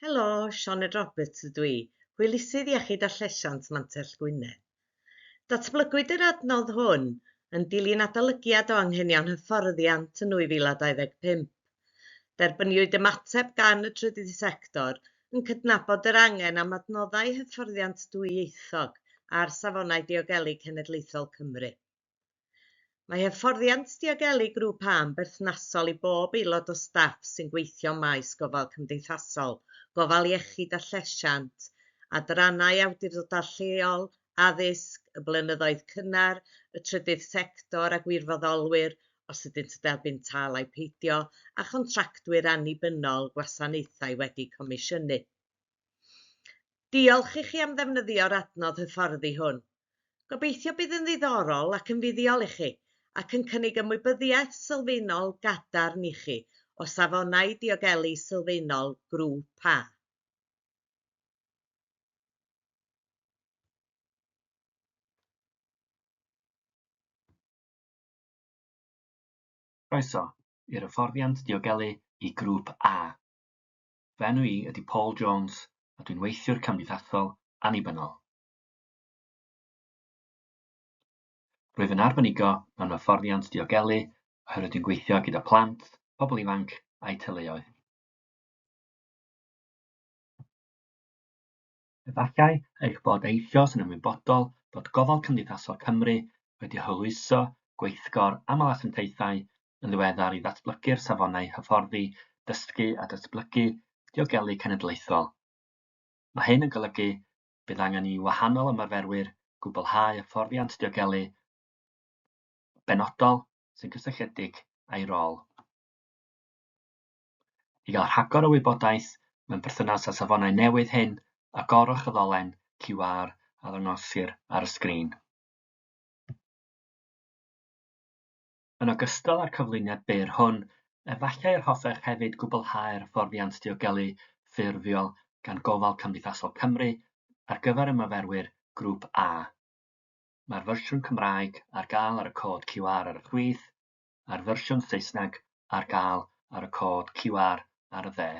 Helo, Sioned Roberts ydw i, Hwylusydd Iechyd a Llesiant Mantell Gwynedd. Datblygwyd yr adnodd hwn yn dilyn adolygiad o anghenion hyfforddiant yn 2025. Derbyniwyd ymateb gan y trydydd sector yn cydnabod yr angen am adnoddau hyfforddiant dwyieithog ar Safonau Diogelu Cenedlaethol Cymru. Mae hyfforddiant diogelu Grŵp A yn berthnasol i bob aelod o staff sy'n gweithio maes gofal cymdeithasol, gofal iechyd a llesiant, adrannau awdurdodau lleol, addysg, y blynyddoedd cynnar, y trydydd sector a gwirfoddolwyr, os ydynt yn derbyn tâl ai peidio, a chontractwyr annibynnol gwasanaethau wedi comisiynu. Diolch i chi am ddefnyddio'r adnodd hyfforddi hwn. Gobeithio bydd yn ddiddorol ac yn fuddiol i chi, ac yn cynnig ymwybyddiaeth sylfaenol gadarn i chi o safonau diogelu sylfaenol Grŵp A. Croeso i'r hyfforddiant diogelu i Grŵp A. Fy enw i ydy Paul Jones a dwi'n weithiwr cymdeithasol annibynnol. Rwyf yn arbenigo mewn hyfforddiant diogelu oherwydd dwi'n gweithio gyda plant, pobl ifanc a'u teuluoedd. Efallai eich bod eisoes yn ymwybodol bod Gofal Cymdeithasol Cymru wedi hwyluso gweithgor aml asiantaethau yn ddiweddar i ddatblygu'r safonau hyfforddi dysgu a datblygu diogelu cenedlaethol. Mae hyn yn golygu bydd angen i wahanol ymarferwyr gwblhau hyfforddiant diogelu benodol sy'n gysylltiedig â'i rôl. I gael rhagor o wybodaeth mewn perthynas â'r safonau newydd hyn, agorwch y ddolen QR a ddangosir ar y sgrin. Yn ogystal â'r cyflwyniad byr hwn, efallai yr hoffech hefyd gwblhau'r hyfforddiant diogelu ffurfiol gan Gofal Cymdeithasol Cymru ar gyfer y myfyrwyr Grŵp A. Mae'r fersiwn Cymraeg ar gael ar y cod QR ar y chwith, a'r fersiwn Saesneg ar gael ar y cod QR ar y dde.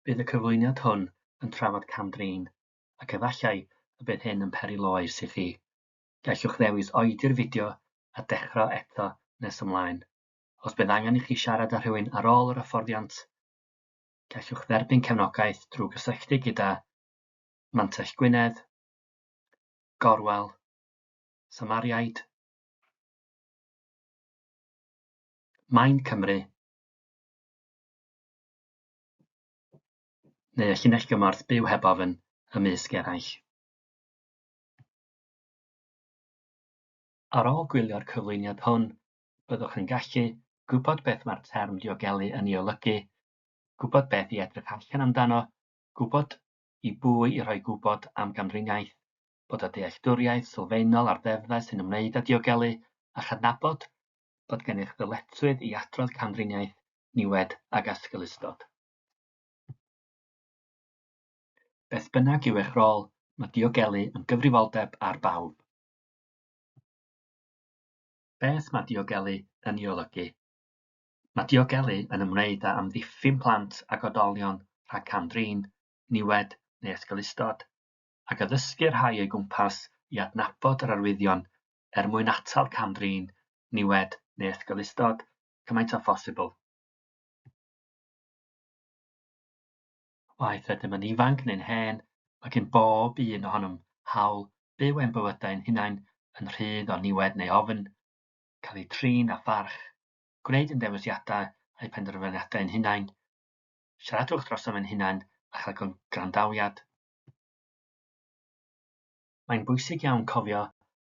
Bydd y cyflwyniad hwn yn trafod cam-drin ac efallai y bydd hyn yn peri loes i chi. Gallwch ddewis oedi'r fideo a dechrau eto nes ymlaen. Os bydd angen i chi siarad â rhywun ar ôl yr hyfforddiant, gallwch dderbyn cefnogaeth drwy gysylltu gyda Mantell Gwynedd, Gorwel, Samariaid, Mind Cymru, neu y llinell gymorth Byw Heb Ofn, ymysg eraill. Ar ôl gwylio'r cyflwyniad hwn, byddwch yn gallu gwybod beth mae'r term diogelu yn ei olygu, gwybod beth i edrych allan amdano, gwybod i bwy i roi gwybod am gamdriniaeth, bod â dealltwriaeth sylfaenol ar ddeddfau sy'n ymwneud â diogelu a chydnabod bod gennych ddyletswydd i adrodd camdriniaeth, niwed ac asgellustod. Beth bynnag yw eich rôl, mae diogelu yn gyfrifoldeb ar bawb. Beth mae diogelu yn ei olygu? Mae diogelu yn ymwneud â amddiffyn plant ac oedolion rhag cam-drin, niwed neu esgelustod, ac addysgu y rhai o'i gwmpas i adnabod yr arwyddion er mwyn atal cam-drin, niwed neu esgelustod cymaint â phosibl. Waeth ydym yn ifanc neu'n hen, mae gen bob un ohonom hawl byw ein bywydau ein hunain yn rhydd o niwed neu ofn, cael eu trin â pharch, gwneud ein dewisiadau a'u penderfyniadau ein hunain, siaradwch drosom ein hunain a chael gwrandawiad. mae'n bwysig iawn cofio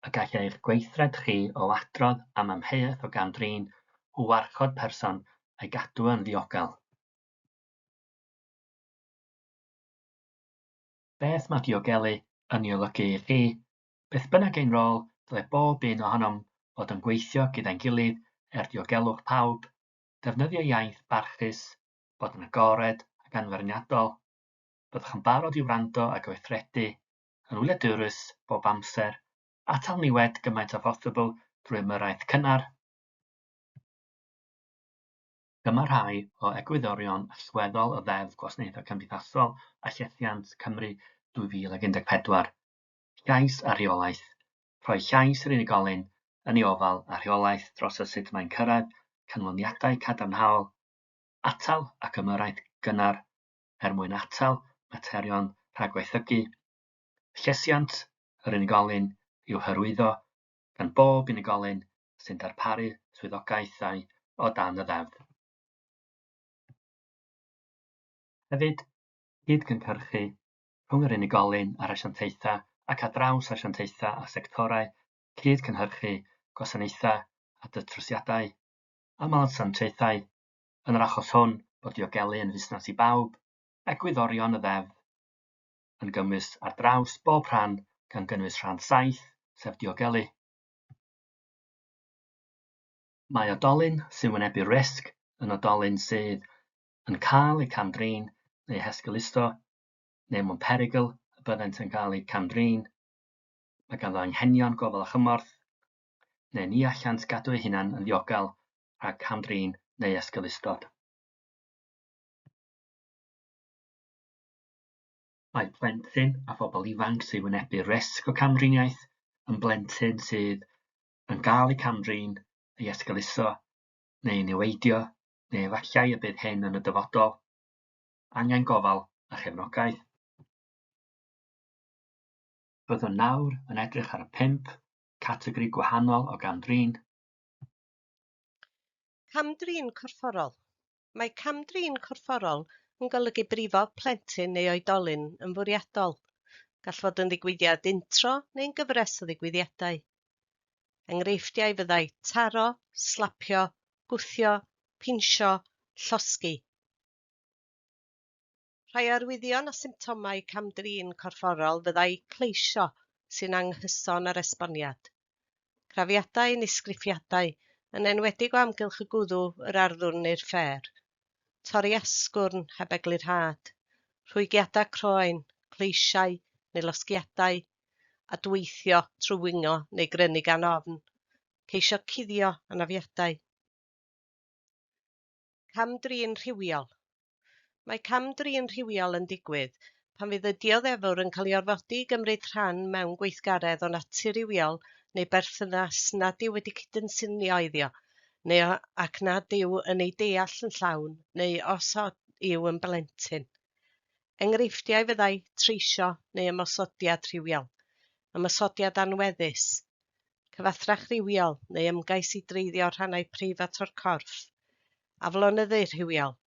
y gall eich gweithred chi o adrodd am amheuaeth o gam-drin o warchod person a'i gadw yn ddiogel. Beth mae diogelu yn ei olygu i chi? Beth bynnag ein rôl, dyle bob un ohonom fod yn gweithio gyda'n gilydd er diogelwch pawb, defnyddio iaith barchus, bod yn agored ac anfeirniadol. Byddwch yn barod i wrando a gweithredu yn wladurus bob amser, atal niwed gymaint â phosibl drwy ymyrraeth cynnar. Dyma rhai o egwyddorion allweddol y Ddeddf Gwasanaethau Cymdeithasol a Llesiant, Cymru, 2014, llais a rheolaeth, rhoi llais i'r unigolyn yn ei ofal a rheolaeth dros y sut mae'n cyrraedd canlyniadau cadarnhaol, atal ac ymyrraeth gynnar, er mwyn atal materion rhagwaethygu. Llesiant yr unigolyn i'w hyrwyddo gan bob unigolyn sy'n darparu swyddogaethau o dan y Ddeddf. Hefyd, cyd-gynhyrchu rhwng yr unigolyn a'r asiantaethau ac ar draws asiantaethau a sectorau, cyd-gynhyrchu gwasanaethau a datrysiadau, aml asiantaethau yn yr achos hwn, bod diogelu yn fusnes i bawb, egwyddorion y Ddeddf yn gymwys ar draws bob rhan gan gynnwys rhan saith, sef diogelu. Mae oedolyn sy'n wynebu risg yn oedolyn sydd yn cael eu cam-drin neu hesgeuluso neu mewn perygl y byddent yn cael eu cam-drin. Mae ganddo anghenion gofal a chymorth neu ni allant gadw eu hunain yn ddiogel rhag cam-drin neu esgeulustod. Mae plentyn a phobl ifanc sy'n wynebu risg o camdriniaeth yn blentyn sydd yn cael ei camdrin, ei esgeuluso neu ei niweidio, neu efallai y bydd hyn yn y dyfodol, angen gofal a chefnogaeth. Byddwn nawr yn edrych ar y pump categori gwahanol o gam-drin. Cam-drin corfforol. Mae cam-drin corfforol yn golygu brifo plentyn neu oedolyn yn fwriadol. Gall fod yn ddigwyddiad untro neu'n gyfres o ddigwyddiadau. Enghreifftiau fyddai taro, slapio, gwthio, pinsio, llosgi. Rhai arwyddion a symptomau cam-drin corfforol fyddai cleisio sy'n anghyson â'r esboniad, crafiadau neu sgrifiadau, yn enwedig o amgylch y gwddw, yr arddwrn neu'r ffêr, torri asgwrn heb eglurhad, rhwygiadau croen, cleisiau neu losgiadau, adweithio trwy wingo neu grynu gan ofn, ceisio cuddio, anafiadau. Cam-drin rhywiol. Mae cam-drin rhywiol yn digwydd pan fydd y dioddefwr yn cael ei orfodi i gymryd rhan mewn gweithgaredd o natur rywiol neu berthynas nad yw wedi cydynsynio iddio neu ac nad yw yn ei deall yn llawn neu os yw yn blentyn. Enghreifftiau fyddai treisio neu ymosodiad rhywiol, ymosodiad anweddus, cyfathrach rhywiol neu ymgais i dreiddio rhannau preifat o'r corff, aflonyddu rhywiol,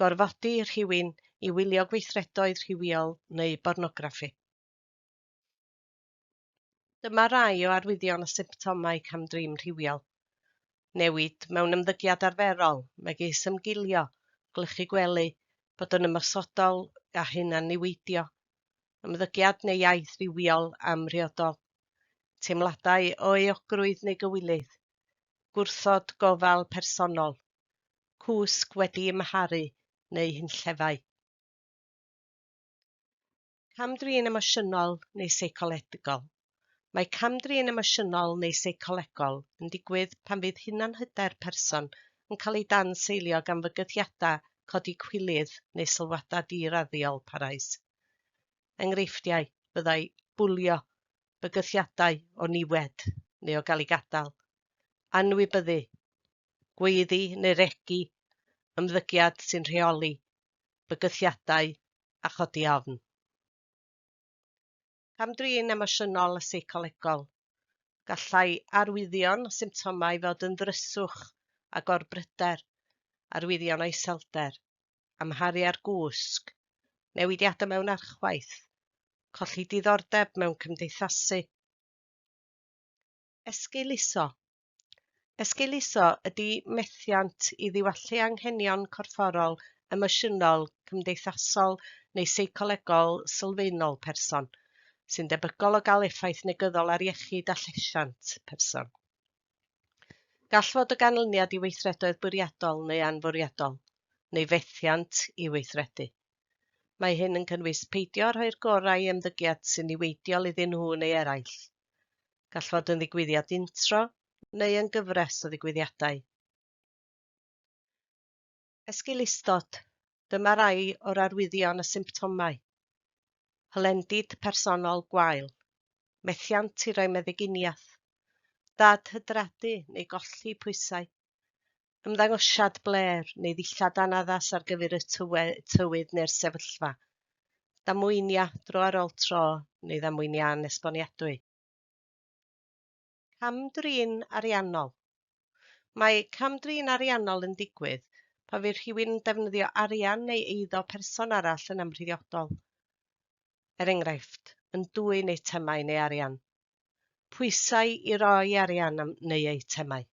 gorfodi rhywun i wylio gweithredoedd rhywiol neu bornograffi. Dyma rai o arwyddion a symptomau cam-drin rhywiol. Newid mewn ymddygiad arferol, megis ymgilio, gwlychu gwely, bod yn ymosodol a hunan-niweidio, ymddygiad neu iaith rywiol amhriodol, teimladau o euogrwydd neu gywilydd, gwrthod gofal personol, cwsg wedi ymharu neu hunllefau. Cam-drin emosiynol neu seicolegol. Mae cam-drin emosiynol neu seicolegol yn digwydd pan fydd hunanhyder person yn cael ei dan-seilio gan fygythiadau codi cwilydd neu sylwadau di-raddiol parhaus. Enghreifftiau fyddai bwlio, bygythiadau o niwed neu o gael ei gadael, anwybyddu, gweiddi neu regi, ymddygiad sy'n rheoli, bygythiadau a chodi ofn. Cam-drin emosiynol a seicolegol. Gallai arwyddion a symptomau fod yn ddryswch a gorbryder, arwyddion o iselder, amharu ar gwsg, newidiadau mewn archwaeth, colli diddordeb mewn cymdeithasu, Esgeuluso, Esgeuluso ydy methiant i ddiwallu anghenion corfforol, emosiynol, cymdeithasol neu seicolegol sylfaenol person, sy'n debygol o gael effaith negyddol ar iechyd a llesiant person. Gall fod o ganlyniad i weithredoedd bwriadol neu anfwriadol, neu fethiant i weithredu. Mae hyn yn cynnwys peidio â rhoi'r gorau i ymddygiad sy'n niweidiol iddyn nhw neu eraill, Gall fod yn ddigwyddiad untro neu yn gyfres o ddigwyddiadau. Esgulustod, dyma rai o'r arwyddion a symptomau. Hylendid personol gwael. Methiant i roi meddyginiaeth. Dad hydradu neu golli pwysau. Ymddangosiad blêr neu ddillad anaddas ar gyfer y tywe, tywydd neu'r sefyllfa. Damweinia dro ar ôl tro neu ddamweinia anesboniadwy. Cam-drin ariannol. Mae cam-drin ariannol yn digwydd pan fydd rhywun yn defnyddio arian neu eiddo person arall yn amhriodol. er enghraifft, yn dwyn eitemau neu arian, pwysau i roi arian am neu eitemau,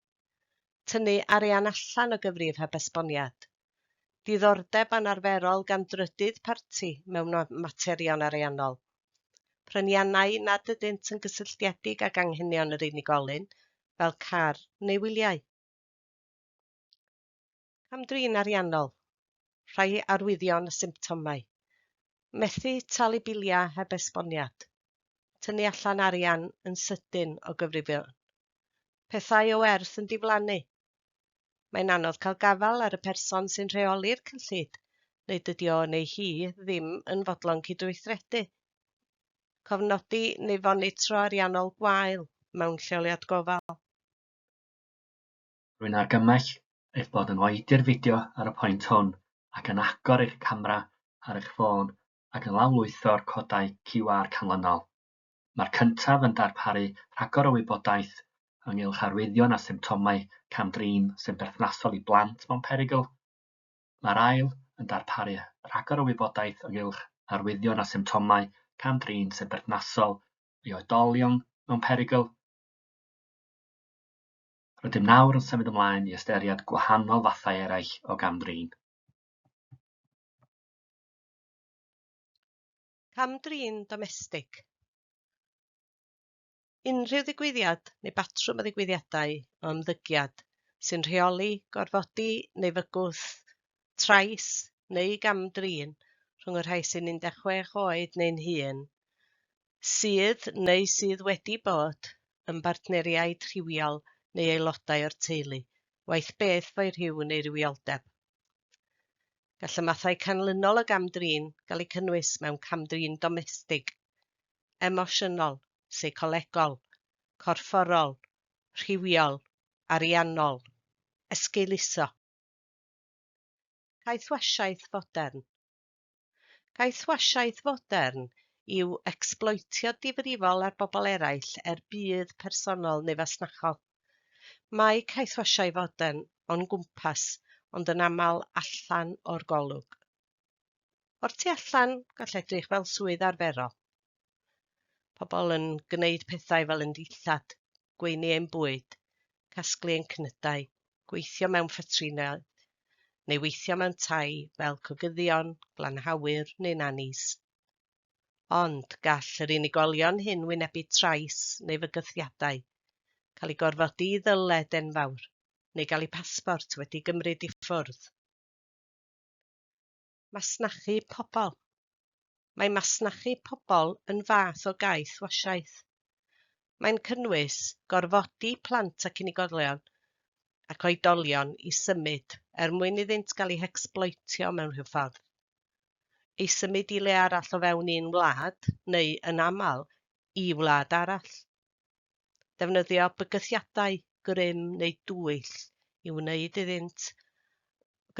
tynnu arian allan o gyfrif heb esboniad, diddordeb anarferol gan drydydd parti mewn materion ariannol, pryniannau nad ydynt yn gysylltiedig ag anghenion yr unigolyn, fel car neu wyliau. Cam-drin ariannol, rhai arwyddion a symptomau, methu talu biliau heb esboniad, tynnu allan arian yn sydyn o gyfrifion, pethau o werth yn diflannu. Mae'n anodd cael gafael ar y person sy'n rheoli'r cyllid neu dydy o neu hi ddim yn fodlon cydweithredu. Cofnodi neu fonitro ariannol gwael mewn lleoliad gofal. Rwy'n argymell eich bod yn oedi'r fideo ar y pwynt hwn ac yn agor eich camera ar eich ffôn ac yn lawrlwytho'r codau QR canlynol. Mae'r cyntaf yn darparu rhagor o wybodaeth ynghylch arwyddion a symptomau cam-drin sy'n berthnasol i blant mewn perygl. Mae'r ail yn darparu rhagor o wybodaeth ynghylch arwyddion a symptomau cam-drin sy'n berthnasol i oedolion mewn perygl. Rydym nawr yn symud ymlaen i ystyried gwahanol fathau eraill o gam-drin. Cam-drin domestig. Unrhyw ddigwyddiad neu batrwm o ddigwyddiadau o ymddygiad sy'n rheoli gorfodi neu fygwth, trais neu gam-drin rhwng y rhai sy'n 16 oed neu'n hŷn sydd neu sydd wedi bod yn bartneriaid rhywiol neu aelodau o'r teulu, waeth beth fo'u rhyw neu rywioldeb. Gall y mathau canlynol o gam-drin gael eu cynnwys mewn cam-drin domestig, emosiynol, seicolegol, corfforol, rhywiol, ariannol, esgeuluso, caethwasiaeth fodern, Caethwasiaeth fodern yw ecsbloetio difrifol ar bobl eraill er budd personol neu fasnachol. Mae caethwasiau fodern o'n gwmpas ond yn aml allan o'r golwg. O'r tu allan, gall edrych fel swydd arferol. Pobl yn gwneud pethau fel yn dillad, gweini ein bwyd, casglu ein cnydau, gweithio mewn ffetrinau, neu weithio mewn tai fel cogyddion, glanhawyr neu nanis. Ond gall yr unigolion hyn wynebu trais neu fygythiadau, cael ei gorfodi i ddyled enfawr, neu gael eu pasbort wedi gymryd i ffwrdd. Masnachu Pobl Mae masnachu pobl yn fath o gaeth wasiaeth. Mae'n cynnwys gorfodi plant ac unigolion ac oedolion i symud er mwyn iddynt gael eu hecsbloetio mewn rhyw ffordd. I symud i le arall o fewn un wlad, neu yn aml, i wlad arall. ddefnyddio bygythiadau grym neu dwyll i wneud iddynt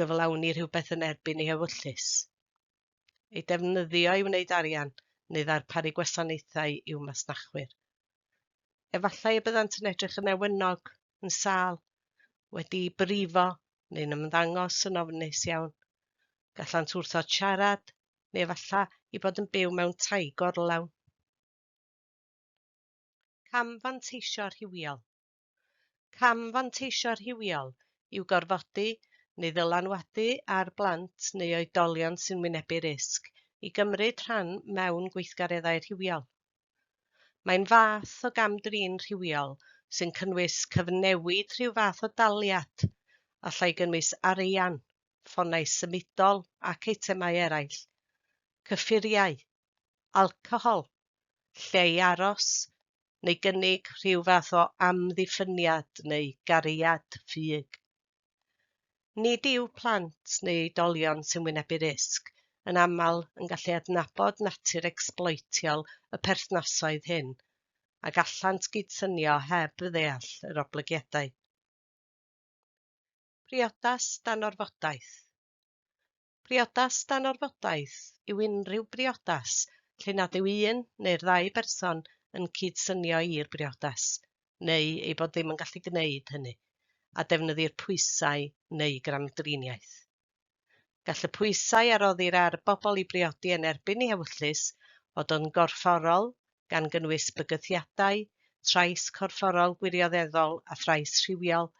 gyflawni rhywbeth yn erbyn ei hewyllys, ei defnyddio i wneud arian neu ddarparu gwasanaethau i'w masnachwyr. Efallai y byddant yn edrych yn ewynog, yn sâl, wedi brifo neu'n ymddangos yn ofnus iawn. Gallant wrthod siarad neu efallai i bod yn byw mewn tai gorlawn. Camfanteisio rhywiol Camfanteisio rhywiol yw gorfodi neu ddylanwadu ar blant neu oedolion sy'n wynebu risg i gymryd rhan mewn gweithgareddau rhywiol. Mae'n fath o gam-drin rhywiol sy'n cynnwys cyfnewid rhyw fath o daliad, allai gynnwys arian, ffonau symudol ac eitemau eraill, cyffuriau, alcohol, lle i aros, neu gynnig rhyw fath o amddiffyniad neu gariad ffug. Nid yw plant neu oedolion sy'n wynebu risg yn aml yn gallu adnabod natur ecsbloetiol y perthnasoedd hyn, a gallant gydsynio heb ddeall yr oblygiadau. Priodas dan orfodaeth. Priodas dan orfodaeth yw unrhyw briodas lle nad yw un neu'r ddau berson yn cyd-synio i'r briodas, neu eu bod ddim yn gallu gwneud hynny, a defnyddir pwysau neu gamdriniaeth. Gall y pwysau a roddir ar bobl i briodi yn erbyn eu hewyllys fod yn gorfforol, gan gynnwys bygythiadau, trais corfforol gwirioneddol a thrais rhywiol,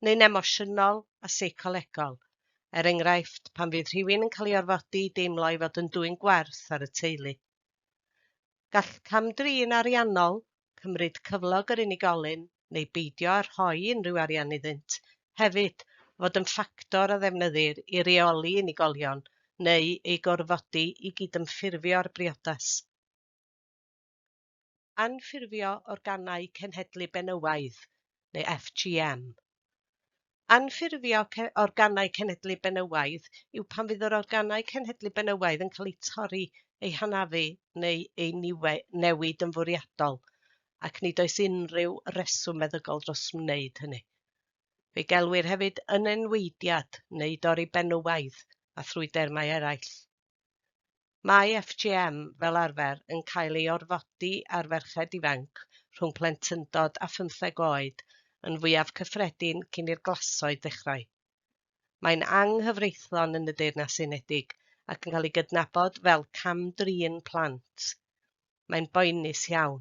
neu'n emosiynol a seicolegol, er enghraifft, pan fydd rhywun yn cael ei orfodi i deimlo ei fod yn dwyn gwerth ar y teulu. Gall cam-drin ariannol, cymryd cyflog yr unigolyn neu beidio â rhoi unrhyw arian iddynt, hefyd, fod yn ffactor a ddefnyddir i reoli unigolion neu eu gorfodi i gydymffurfio â'r briodas. Anffurfio Organau Cenhedlu Benywaidd, neu FGM. Anffurfio organau cenhedlu benywaidd yw pan fydd yr organau cenhedlu benywaidd yn cael eu torri, eu hanafu neu eu newid yn fwriadol, ac nid oes unrhyw reswm meddygol dros wneud hynny. Fe gelwir hefyd yn enweidiad neu dorri benywaidd a thrwy dermau eraill. Mae FGM fel arfer yn cael ei orfodi ar ferched ifanc rhwng plentyndod a phymtheg oed, yn fwyaf cyffredin cyn i'r glasoed ddechrau. Mae'n anghyfreithlon yn y Deyrnas Unedig ac yn cael ei gydnabod fel cam-drin plant. mae'n boenus iawn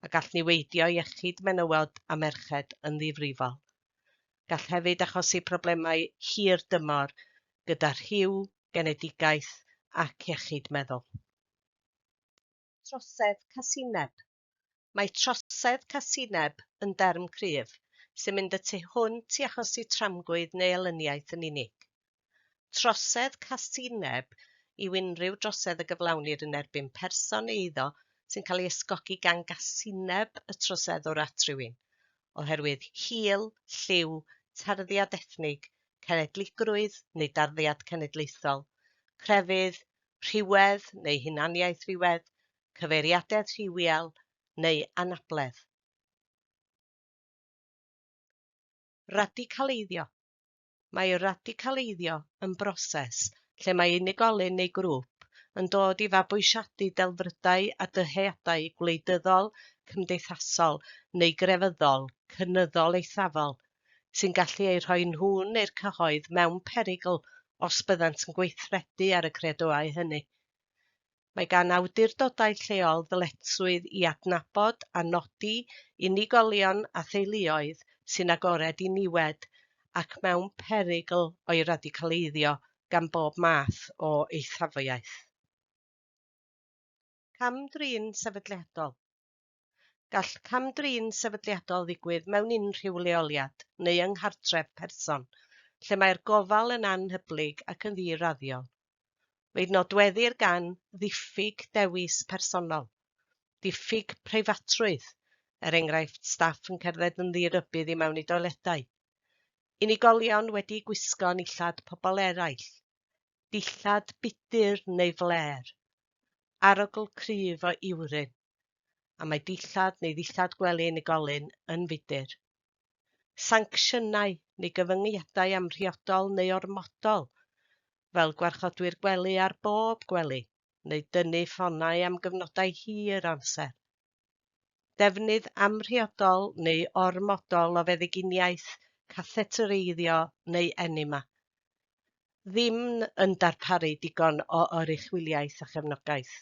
a gall niweidio iechyd menywod a merched yn ddifrifol. Gall hefyd achosi problemau hir dymor gyda rhyw, genedigaeth ac iechyd meddwl. Trosedd casineb Mae trosedd casineb yn derm cryf sy'n mynd y tu hwnt i achosi tramgwydd neu elyniaeth yn unig. trosedd casineb yw unrhyw drosedd y gyflawnir yn erbyn person neu eiddo sy'n cael ei ysgogi gan gasineb y troseddwr at rywun, oherwydd hil, lliw, tarddiad ethnig, cenedligrwydd neu darddiad cenedlaethol, crefydd, rhywedd neu hunaniaeth rhywedd, cyfeiriadedd rhywiol neu anabledd. Radicaleiddio. mae radicaleiddio yn broses lle mae unigolyn neu grŵp yn dod i fabwysiadu delfrydau a dyheadau gwleidyddol, cymdeithasol neu grefyddol cynyddol eithafol sy'n gallu eu rhoi nhw neu'r cyhoedd mewn perygl os byddant yn gweithredu ar y credoau hynny. mae gan awdurdodau lleol ddyletswydd i adnabod a nodi unigolion a theuluoedd sy'n agored i niwed ac mewn perygl o'i radicaleiddio gan bob math o eithafiaeth. Cam-drin sefydliadol. Gall cam-drin sefydliadol ddigwydd mewn unrhyw leoliad neu yng nghartref person lle mae'r gofal yn anhyblyg ac yn ddi-raddiol. Fe'i nodweddir gan ddiffyg dewis personol, diffyg preifatrwydd, er enghraifft staff yn cerdded yn ddi-rybudd i mewn i doiledau, unigolion wedi gwisgo nillad pobl eraill, dillad budr neu flêr, arogl cryf o iwrin. a mae dillad neu ddillad gwely unigolyn yn fudr. Sancsiynau neu gyfyngiadau amhriodol neu ormodol, fel gwarchodwyr gwely ar bob gwely, neu dynnu ffonau am gyfnodau hir amser. Defnydd amhriodol neu ormodol o feddyginiaeth, cathetereiddio neu enema. Ddim yn darparu digon o oruchwyliaeth a chefnogaeth.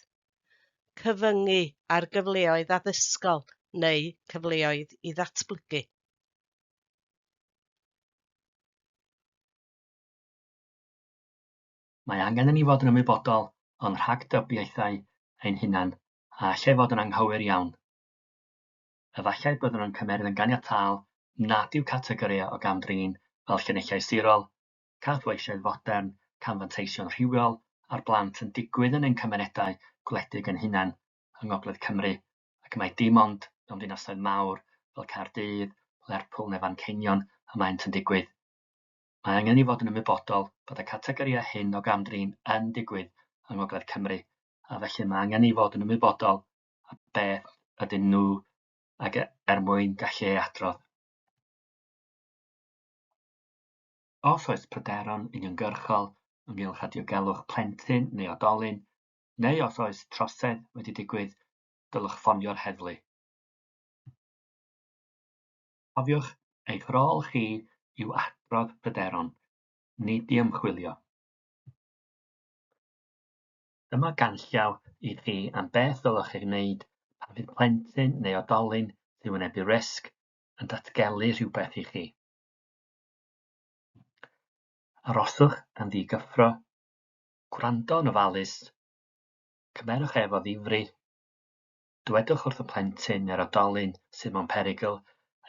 cyfyngu ar gyfleoedd addysgol neu cyfleoedd i ddatblygu. Mae angen i ni fod yn ymwybodol o'n rhagdybiaethau ein hunain a allai fod yn anghywir iawn. Efallai byddwn yn cymeryd yn ganiataol nad yw categorïau o gam-drin fel llinellau sirol, caethweisioedd fodern, camfanteision rhywiol ar blant yn digwydd yn ein cymunedau gwledig ein hunain yng Ngogledd Cymru, ac mai dim ond mewn dinasoedd mawr fel Caerdydd, Lerpwl neu Fanceinion y maent yn digwydd. Mae angen i fod yn ymwybodol bod y categorïau hyn o gam-drin yn digwydd yng Ngogledd Cymru, a felly mae angen i fod yn ymwybodol a beth ydyn nhw ac er mwyn gallu ei adrodd. Os oes pryderon uniongyrchol ynghylch a diogelwch plentyn neu oedolyn, neu os oes trosedd wedi digwydd, dylech ffonio'r heddlu. Cofiwch, eich rôl chi yw adrodd pryderon, nid i ymchwilio. Dyma ganllaw i chi am beth ddylech ei wneud pan fydd plentyn neu oedolyn sy'n wynebu risg yn datgelu rhywbeth i chi. Aroswch yn ddigyffro, gwrando'n ofalus, cymerwch ef o ddifri, dywedwch wrth y plentyn neu'r oedolyn sydd mewn perygl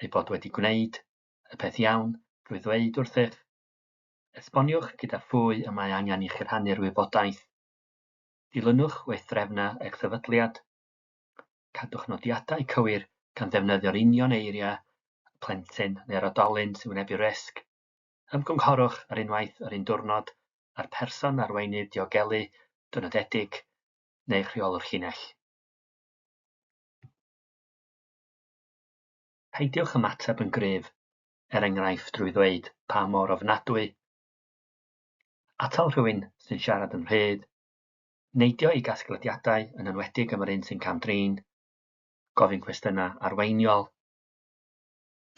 ei bod wedi gwneud y peth iawn drwy ddweud wrthych. Esboniwch gyda phwy y mae angen i chi rhannu'r wybodaeth. Dilynwch weithdrefnau eich sefydliad. Cadwch nodiadau cywir gan ddefnyddio'r union eiriau y plentyn neu'r oedolyn sy'n wynebu risg. Ymgynghorwch ar unwaith yr un diwrnod â'r person arweinydd diogelu dynodedig neu'ch rheolwr llinell. Peidiwch ymateb yn gryf, er enghraifft drwy ddweud pa mor ofnadwy, atal rhywun sy'n siarad yn rhydd, neidio i gasglediadau, yn enwedig am yr un sy'n cam-drin, gofyn cwestiynau arweiniol,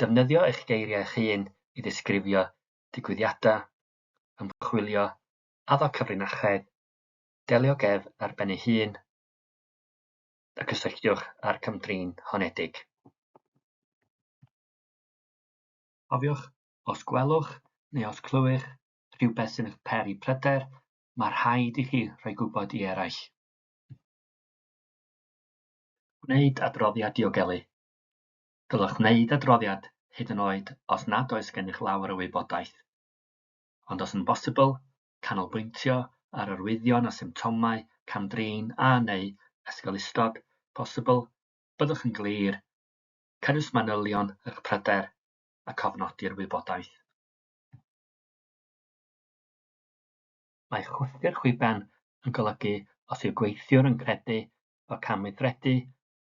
defnyddio eich geiriau eich hun i ddisgrifio digwyddiadau, ymchwilio, addo cyfrinachedd, delio ag ef ar ben ei hun, a gysylltiwch â'r cam-drin honedig. Cofiwch, os gwelwch neu os clywir rhywbeth sy'n eich peri pryder, mae rhaid i chi roi gwybod i eraill. Gwneud adroddiad diogelu. Dylech wneud adroddiad hyd yn oed os nad oes gennych lawer o wybodaeth. Ond os yn bosibl, canolbwyntio ar arwyddion a symptomau cam-drin a neu ysgol ystod posibl, byddwch yn glir, cynnwys manylion eich pryder a cofnodi'r wybodaeth. Mae chwythu'r chwiben yn golygu os yw gweithiwr yn credu bod camweithredu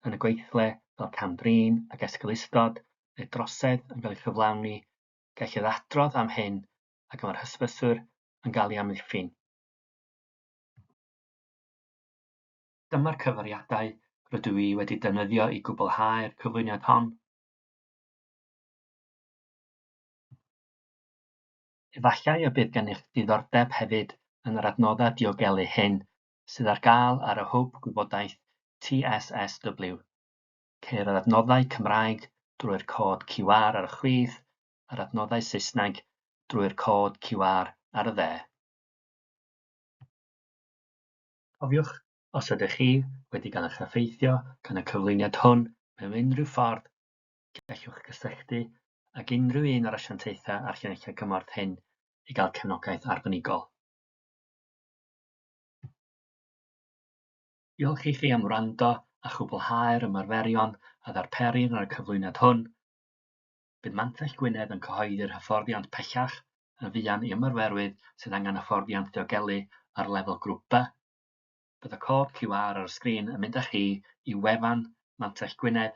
yn y gweithle fel cam-drin ac esgeulustod neu drosedd yn cael ei chyflawni, gellid adrodd am hyn ac mae'r hysbyswyr yn cael ei amddiffyn. Dyma'r cyfeiriadau rydw i wedi defnyddio i gwblhau'r cyflwyniad hon. Efallai y bydd gennych ddiddordeb hefyd yn yr adnoddau diogelu hyn sydd ar gael ar y Hwb Gwybodaeth TSSW. Ceir yr adnoddau Cymraeg drwy'r cod QR ar y chwith a'r adnoddau Saesneg drwy'r cod QR ar y dde. Cofiwch, os ydych chi wedi cael eich effeithio gan y cyflwyniad hwn mewn unrhyw ffordd, gallwch gysylltu ag unrhyw un o'r asiantaethau a'r llinellau cymorth hyn i gael cefnogaeth arbenigol. Diolch i chi am wrando a chwblhau'r ymarferion a ddarperir yn y cyflwyniad hwn. Bydd Mantell Gwynedd yn cyhoeddi'r hyfforddiant pellach yn fuan i ymarferwyr sydd angen hyfforddiant ddiogelu ar lefel grŵp B. Bydd y cod QR ar y sgrin yn mynd â chi i wefan Mantell Gwynedd